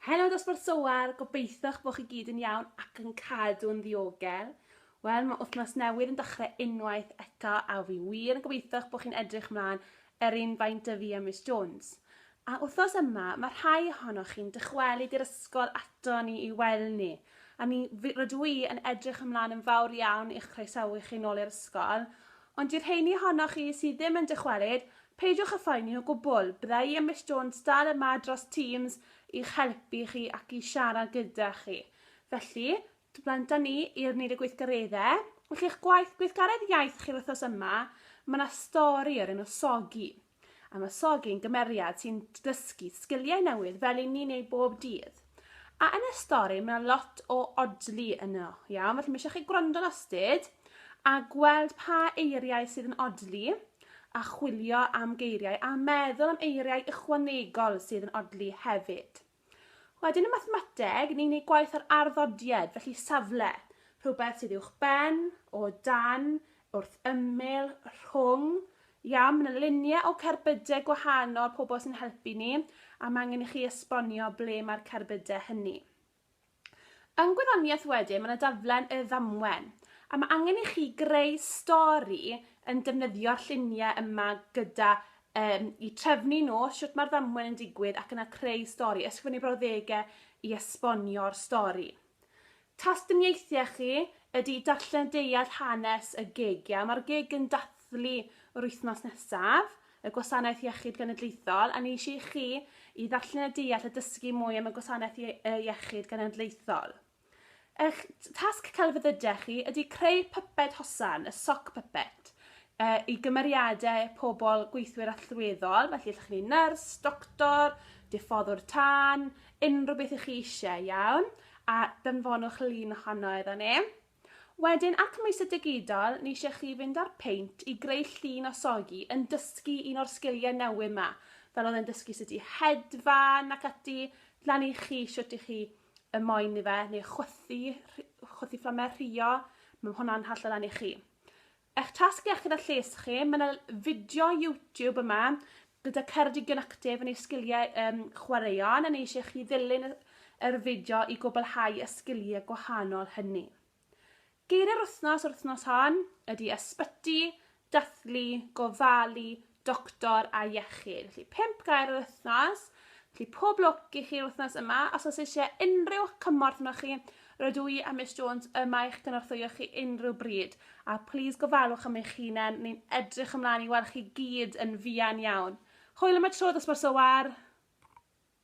Helo Dosbarth Soar, gobeitho'ch bod chi gyd yn iawn ac yn cadw yn ddiogel. Wel, mae wythnos newydd yn dechrau unwaith eto a fi wir yn gobeitho'ch bod chi'n edrych mlaen yr un faint y fi a Miss Jones. A wythnos yma, mae rhai ohonoch chi'n dychwelyd i'r ysgol ato ni i weld ni, a mi rydw i yn edrych ymlaen yn fawr iawn i'ch croesawu chi nôl i'r ysgol, Ond i'r rheiny ohonoch chi sydd ddim yn dychwelyd, peidiwch â phoeni o gwbl, bydda i a Miss Jones dal yma dros Teams i'ch helpu chi ac i siarad gyda chi. Felly, blant â ni i'r nid y gweithgareddau. Felly, eich gwaith gweithgaredd iaith chi'r wythnos yma, mae yna stori o'r enw Soggy. a masogi'n gymeriad sy'n dysgu sgiliau newydd fel i ni'n ei bob dydd. A yn y stori mae lot o odli yno, iawn, felly mae eisiau chi gwrando'n astud a gweld pa eiriau sydd yn odli a chwilio am geiriau a meddwl am eiriau ychwanegol sydd yn odli hefyd. Wedyn y mathemateg, ni'n ei gwaith ar arddodied, felly safle, rhywbeth sydd uwch ben, o dan, wrth ymyl, rhwng, iawn, mae yna luniau o cerbydau gwahanol pobl sy'n helpu ni, a mae angen i chi esbonio ble mae'r cerbydau hynny. Yn gwyddoniaeth wedyn mae 'na daflen y ddamwen a mae angen i chi greu stori yn defnyddio'r lluniau yma gyda um, i trefnu nhw, sut mae'r ddamwen yn digwydd ac yna creu stori, ysgrifennu brawddegau i esbonio'r stori. Tastyniaethau chi ydy darllen deall hanes y gig. Ia? Mae'r gig yn dathlu yr wythnos nesaf. y Gwasanaeth Iechyd Genedlaethol, a neis i chi i ddarllen a deall a dysgu mwy am y Gwasanaeth Ie y Iechyd Genedlaethol. Eich tasg celfyddydau chi ydy creu pyped hosan, y sock puppet, uh, i gymeriadau pobl gweithwyr allweddol, felly ydych chi'n nyrs, doctor, diffoddwr tân, unrhyw beth ych chi eisiau, iawn, a dynfonwch lun ohono iddo ni. Wedyn ac mis y digidol ni eisiau chi fynd ar peint i greu llun o sogi yn dysgu un o'r sgiliau newydd ma fel oedd e'n dysgu sut i hedfan ac ati lan i chi shwt i chi y moyn i fe neu chwythu chwythu fflamau rhuo mae hwnna'n hallol lan i chi Eich tasg iechyd a lles chi, mae 'na fideo YouTube yma gyda Ceredigion Actif yn ei sgiliau um, chwaraeon a ni eisiau chi ddilyn yr fideo i gwblhau y sgiliau gwahanol hynny. Geiriau'r wythnos yr wythnos hon ydy ysbyty, dathlu, gofalu, doctor a iechyd. Felly, pimp gair yr wythnos. Felly, pob lwc i chi'r wythnos yma. Os oes eisiau unrhyw cymorth yno chi, rydw i a Miss Jones yma i'ch gynorthwyo chi unrhyw bryd. A please gofalwch am eich hunain, ni'n edrych ymlaen i weld chi gyd yn fuan iawn. Hwyl am y tro, dosbarth so war!